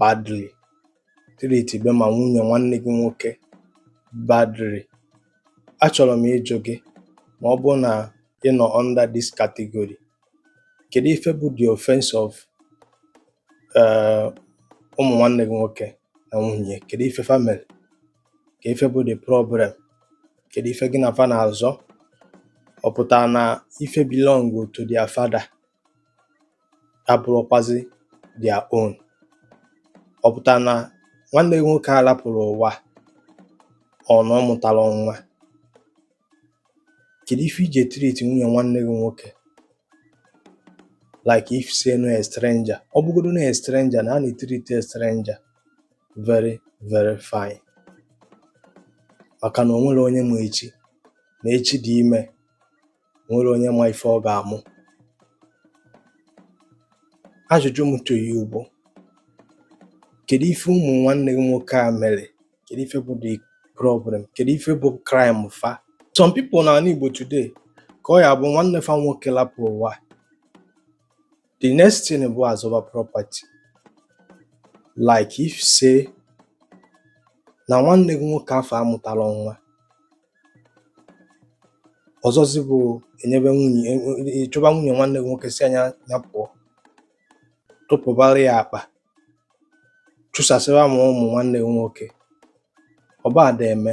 badly treatibe ma nwunye nwanne gị nwoke badly achọrọ m ịjụ gị ma ọ bụrụ na ị nọ under this category kedu ife bụ the offense of eh, ụmụ nwanne gị nwoke na nwunye kedu ife fa mere kedu ife bụ the problem kedu ife gị na fa na-azọ ọ pụtara na ife belong to their father abụrụkwazị their own ọ pụtara na nwanne gị nwoke a lapụrụ ụwa ọ na ọ mụtara nwa kedu ife i ji treat nwunye nwanne gị nwoke like if say na ọ a stranger ọ bụgodo na a stranger na a na-treat a stranger very very fine maka na o nwere onye ma echi na echi dị ime nwere onye ma ife ọ ga-amụ ajụjụ m to you bụ kedu ife ụmụ nwanne gị nwoke a mere kedu ife bụ the problem kedu ife bụ crime fa some people na ala Igbo today ka ọ ya-abụ nwanne fa nwoke lapụ ụwa The next thing bụ azụba property like if say na nwanne gị nwoke afụ amụtarọ nwa ọzọzi bụ enyebe nwunye e, e, e, chụba nwunye nwanne gị nwoke sị ya ya pụọ tụpụbara ya akpa chụsasịba ma ụmụ nwanne gị nwoke ọba ada eme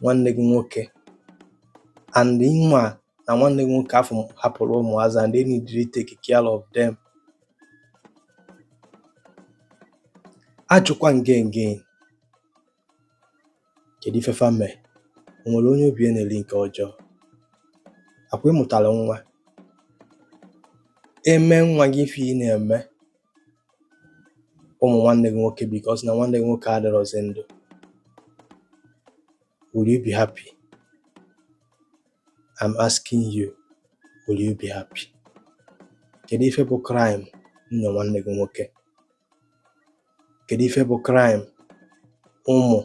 nwanne gị nwoke and ị ma na nwanne gị nwoke afụ hapụrụ ụmụazị and they need to take care of them ajụkwa m gị again kedu ife fa mere o nwere onye obi na-eri nke ọjọọ akwa ị mụtara nwa e mee nwa gị ife ị na-eme ụmụ nwanne gị nwoke because na nwanne gị nwoke adịrọzi ndụ will you be happy I'm asking you will you be happy kedu ife bụ crime nwunye nwanne gị nwoke kedu ife bụ crime ụmụ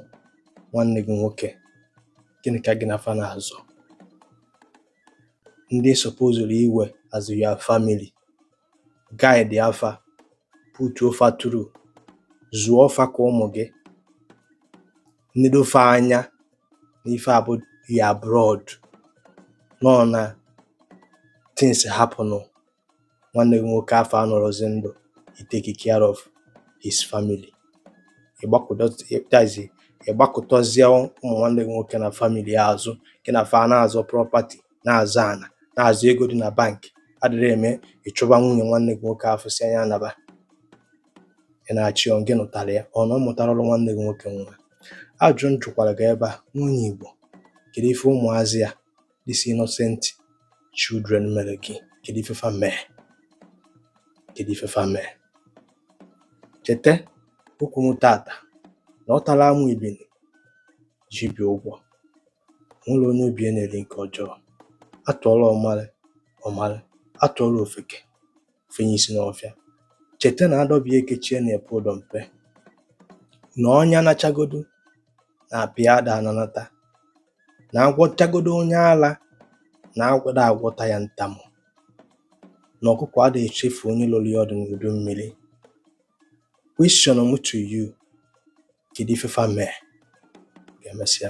nwanne gị nwoke gịnị ka gị na fa na-azọ ndị supposuru iwe as your family guide fa putuo fa through zụọ fa ka ụmụ gị nedo fa anya n'ife a bụ your blood nọ na things happen nwanne gị nwoke afụ anọrọzi ndụ i take care of his family ị gbakụtazi ị gbakụtazie ụmụ nwanne gị nwoke na family azụ gị na fa na-azọ property na-azọ ana na-azọ ego dị na bank adịrị eme ị chụba nwunye nwanne gị nwoke afụ sị ya naba ị na-achị ọ gị nụtara ya ọ na ọ mụtarọlụ nwanne gị nwoke nwa ajụ m jụkwara gị ebe a nwunye Igbo kedu ife ụmụazị ya these innocent children mere gị kedu ife fa mee kedu ife fa mee cheta okwu m tata na ọ tara amụ ebini ji ibi ụgwọ nwere onye obi ya na-eri nke ọjọọ atụọra ọmara ọmara atụọra ofeke o fenye isi n'ọfịa cheta na adọbịa ekechie na-epe ụdọ mpe na ọnya nachagodo na apa ya ada ananata na agwọchagodo onye ala na agwọ ada agwọta ya ntamu na ọkụkọ ada echefu onye lụrụ ya ọdụ n'udu mmiri question m to you kedu ife fa mee ka emesịa